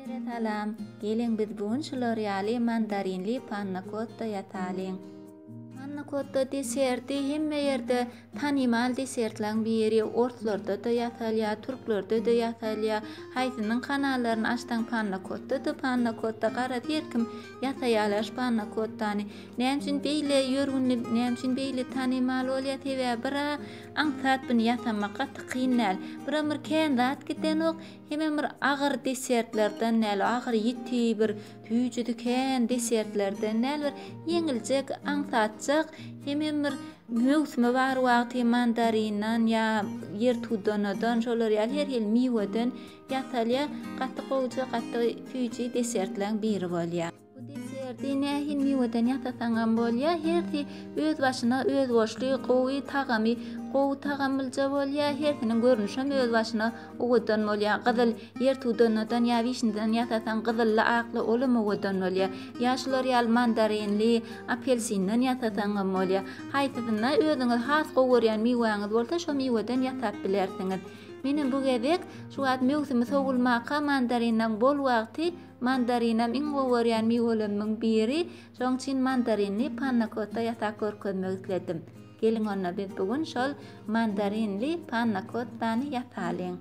Hemmelere salam! Geliň biz bu gün şular ýaly mandarinli pannakotta ýasalyň. Pannakotta deserti hemme ýerde tanymal desertlaň biri, orslarda-da ýasalýar, türklerde-de ýasalýar. Haýsynyň kanallaryny açsaň pannakotta-da pannakotta, garaz her kim ýasaýarlar şu pannakottany. Näme üçin beýle ýörgünli, näme üçin beýle tanymal bolýar? Sebäbi bira aňsat buni ýasamak gaty kyn däl. Biram bir kän zat gidenok. Hemem bir agyr desertlerden däl, agyr ýiti bir süýji diken desertlerden däl, bir ýeňiljek, aňsatjak, hemem bir möwsümi bar wagty mandarinden ýa ýertudunadan, şolar ýaly her hili miweden ýasalýar. Gaty gowja, gaty süýji desertleň biri bolýar. Bu deserti nähili miweden ýasasaňam bolýar, hersi öz başyna özboluşly gowy tagamy, gowy tagamlyja bolýar, hersiniň görnüşem öz başyna owadan bolýar. Gyzyl, ýertudannadan ýa wişnýadan ýasasaň, gyzylly, akly olam owadan bolýar. Ýa şular ýaly mandarinli, apelsinden ýasasaňam bolýar. Haýsysyny özüňiz has gowy görýän miwäňiz bolsa, şo miweden ýasap bilersiňiz. Menem bu gezek şu wagt möwsümi sowulmaka, mandarinden bol wagty, Mandarinam iň gowy görýän miwelerimiň biri, şoň üçin mandarinli panna-kotta ýasap görkezmek isledim. Geliň onda biz bu gün şol mandarinli panna-kottany ýasalyň.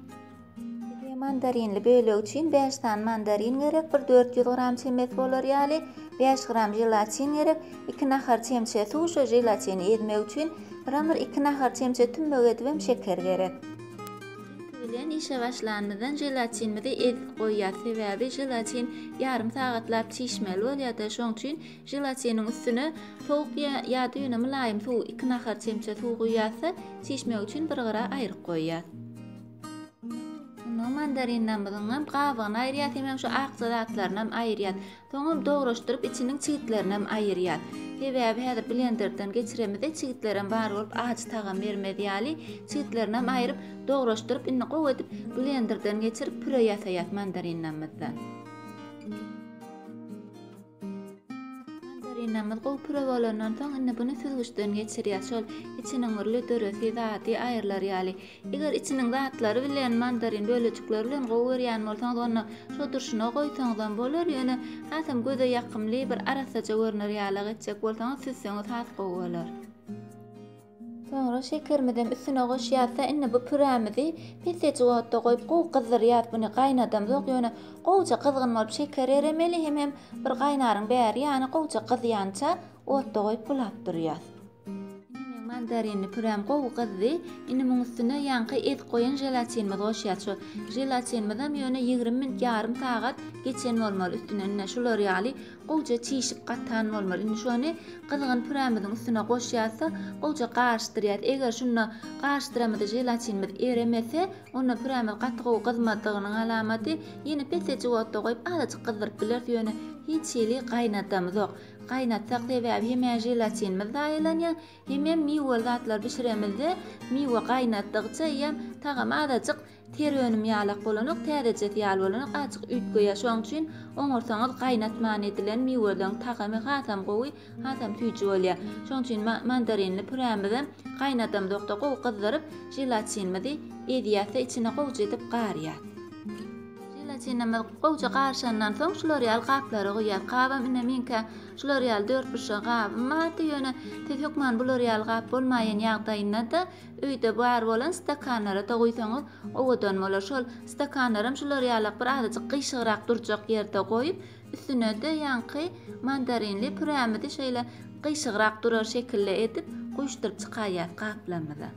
Bize mandarinli bölegi üçin bäş sany mandarin gerek, bir dört ýüz gram çemesi bolar ýaly, bäş gram želatin gerek, iki nahar çemçe suw, şu želatini ezmek üçin, ram-r iki nahar çemçe tümmek edibem şeker gerek. Süt bilen işe başlanymyzdan želatinimizi ezip goýýas, sebäbi želatin ýarym sagatlap çişmeli bolýar-da, şoň üçin želatiniň üstüne sowuk ýa-da ýöne mylaýym suw, iki nahar çemçe suw guýýas-da, çişmegi üçin bir gyra aýryp goýýas. Onsoň mandarinamyzyňam gabygyny aýyrýas, hemem şu akja zatlaryny hem aýyrýas. Soňam dograşdyryp içiniň çigitlerinem aýyrýas. Sebäbi häzir blenderden geçiremizde çigitlerem bar bolup ajy tagam bermez ýaly çigitlerinem aýryp dograşdyryp indi gowy edip blenderden geçirip püre ýasaýas mandarinamyzdan. Mandarinamyz gowy püre bolandan soň indi buny süzgüçden geçirýas şol içiniň bir lüdürisi zady aýrylar ýaly Eger içiniň zatlary bilen, mandarin bölejikleri bilen gowy görýän bolsaňyz, onda şo durşuna goýsaňyzam bolar, ýöne hasam göze ýakymly, bir arassaja görner ýalak etjek bolsaňyz, süzseňiz has gowy bolar. Soňra şekerimizem üstüne goşýas-da, indi bu pürämizi pesejik otda goýup, gowy gyzdyrýas. Buny gaýnadamzok, ýöne gowuja gyzgyn bolup şeker eremeli, hemem bir gaýnaryň bäri ýany gowuja gyzýança otda goýup bulap durýas. Ine meň mandarinli püräm gowy gyzdy. Indi muň üstüne ýaňky ezip goýan želatinimizi goşýas. Şu želatinimizem ýöne ýigrimi minut ýarym sagat geçen bolmaly üstünden ine şular ýaly gowja çişip gatan bolmaly. Indi şony gyzgyn pürämiziň üstüne goşýas-da gowja garyşdyrýas. Eger şunda garyşdyramyzda želatinimiz eremese onda pürämiz gaty gowy gyzmadygynyň alamaty. Ýene pesejik otda goýup azajyk gyzdyryp bileris ýöne hiç hili gaýnadamyzok. Gaýnatsak sebäbi hem želatinimiz zaýalanýar, hemem miweli zatlar bişiremizde miwe gaýnatdygça iýem tagamy azajyk ter önüm ýalak bolanok täzejesi ýaly bolanok azjyk üýtgeýär şoň üçin oňarsaňyz gaýnatman edilen miweleň tagamy hasam gowy hasam süýji bolýar şoň üçin mandarinli pürämizem gaýnadamzokda gowy gyzdyryp želatinimizi ezýäsde içine gowja edip garýas. Želatinimiz gowja garyşandan soň şular ýaly gaplara guýýas. Gabam ine meňkä şular ýaly dörtburçly gabym bardy, ýöne siz hökman bular ýaly gap bolmaýan ýagdaýynda-da öýde bar bolan stakanlara-da guýsaňyz owadan bolar. Şol stakanlaram şular ýalak bir azajyk gyşygrak durjak ýerde goýup, üstüne-de ýaňky mandarinli pürämizi şeýle gyşygrak durar şekilde edip guýuşdyryp çykaýýas gaplarymyza.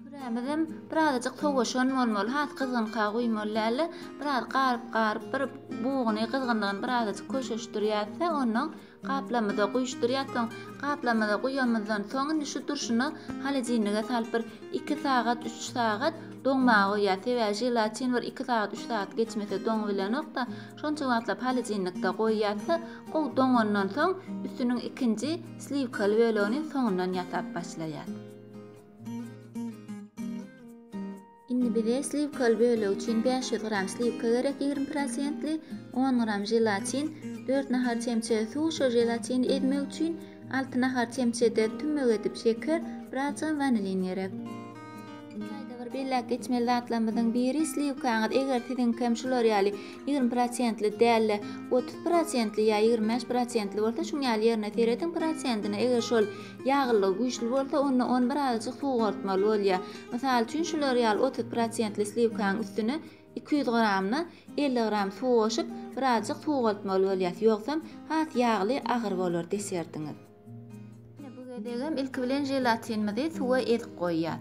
Kürämizem birazajyk sowaşan bolmaly, has gyzgynka guýmaly däldi. Biraz garyp garyp bir buguny gyzgynlygyny birazajyk köşeşdirýäs-de, onnoň gaplamyza guýuşdyrýas. Soň gaplamyza guýamyzdan soň indi şu durşuna holodilnige salyp bir iki sagat, üç sagat doňmaga goýýas. Sebäbi želatin bir iki sagat, üç sagat geçmese doňup bilenok-da. Şonça wagtlap holodilnikde goýýas-da, gowy doňandan soň üstüniň ikinji sliwkaly bölegini soňundan ýasap başlaýas. Indi bize sliwkaly bölegi üçin bäş ýüz gram sliwka gerek ýigrimi prosentli, on gram želatin, dört nahar çemçe suw şo želatini ezmek üçin, alty nahar çemçede tümmek edip şeker, birazjygam wanilin gerek. Çaýda bir belläp geçmeli zatlarymyzyň biri sliwkaňyz eger siziňkem şular ýaly ýigrimi prosentli däl-de otuz prosentli ýa ýigrimi bäş prosentli bolsa şuň ýaly ýerine serediň prosentine eger şol Ýaglylygy güýçli bolsa, onda ony birazajyk suwartmaly bolýar. Mysal üçin, şular ýaly otuz prosentli sliwkanyň üstüne iki ýüz gramdan elli gram suw goşup, birazajyk suwaltmaly bolýas, ýogsam, has ýagly, agyr bolar desertiňiz. Ine, bu gezegem ilki bilen želatinimizi suwa ezip goýýas.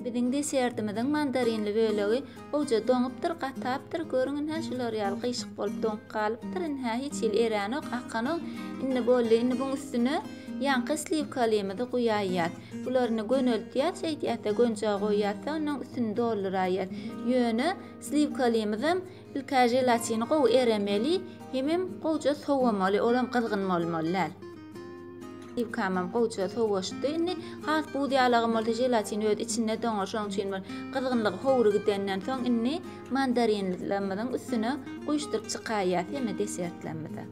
Ine biziň desertimiziň mandarinli bölegi gowja doňupdyr, gatapdyr, görüň ine şular ýaly gyýşyk bolup doňup galypdyr, ine hiç hili erenok, akanok. Indi boldy, indi buň üstüne ýaňky sliwkalymyzy guýaýýas. Bulary indi göneltýäs, şeýdýäs-de gönjä goýýas-da, onuň üstüni dolduraýýas. Ýöne sliwkalymyzam Ilkaý želatini gowy eremeli, hemem gowja sowamaly, olam gyzgyn bolmaly däl. Ýukamam gowja sowaşdy. Indi has buz ýalagam bolsa želatin öz içinde doňar, şonuň üçin bir gyzgynlygy howry gidenden soň indi mandarinlerimiziň üstüne guýuşdyryp çykaýýas hemme desertlerimizi.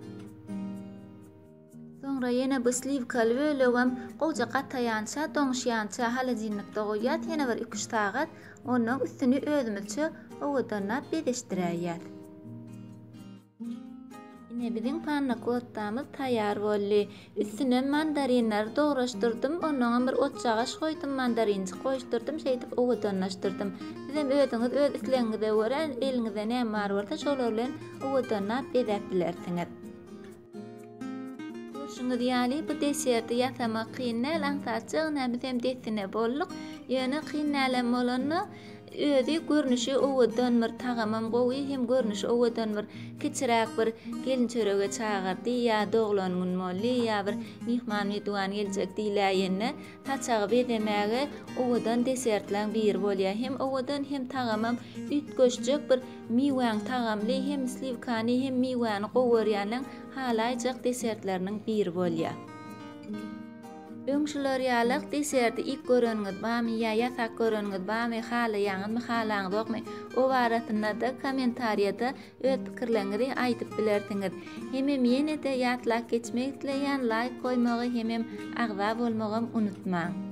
Soňra ýene bu sliwkaly bölegem gowja gataýança, doňuşýança holodilnikde goýýas ýene bir iki-üç sagat. Onnoň üstüni özümizçe owadanlap bezişdiräýýäs. Ine biziň pannakottamyz taýýar boldy. Üstüne mandarinleri dograşdyrdym. Onnoňam bir otjagaş goýdum, mandarinjik goýuşdyrdym. Şeýdip owadanlaşdyrdym. Sizem özüňiz öz islegiňize görä, eliňizde näme bar bolsa şolar bilen owadanlap bezäp bilersiňiz. Görşüňiz ýaly, bu deserti ýasamak kyn däl, aňsat jagna biz hem dessine bolduk. Ýöne kyn dälem bolanda, özi görnüşi owadan bir tagamam gowy, hem görnüşi owadan bir kiçiräk bir gelin çörege çagyrdy, ýa doglan gün boldy, ýa bir myhman-mihdiwan geljek diýläýende, Saçagy bezemäge owadan desertlaň biri bolýar. Hem owadan hem tagamam üýtgeşjek bir miwäň tagamly hem sliwkany hem miwäni gowy görýänleň halaýjak desertleriniň biri bolýar. Öň şular ýalak deserti ilk göreniňiz bamy ýa ýasak göreniňiz bamy halaýaňyzmy halaňzokmy o barasynada kommentariýada Öz pikirleriňizi aýdyp bilersiňiz. Hemem ýenede ýatlap geçmek isleýän laýk goýmagy hemem agza bolmagam unutmaň.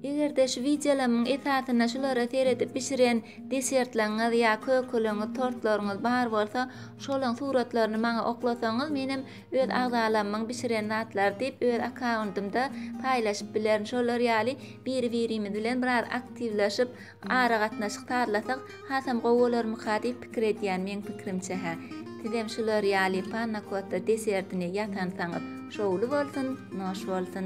Egerde şu wideolamyň esasynda şulara seredip bişiren desertleriňiz ýa kökeleriňiz tortlaryňyz bar bolsa şolaň suratlaryny maňa oklasaňyz menem öz agzalamyň bişiren zatlary diýip öz akauntymda paýlaşyp bilerin şolar ýaly biri birimiz bilen biraz aktiwlaşyp Aragatnaşyk sazlasak hasam gowy bolarmyka diýip pikir edýän meň pikrimçe hä. Sizem şular ýaly panna kotta deserdini ýasansaňyz şowly bolsun, noş bolsun.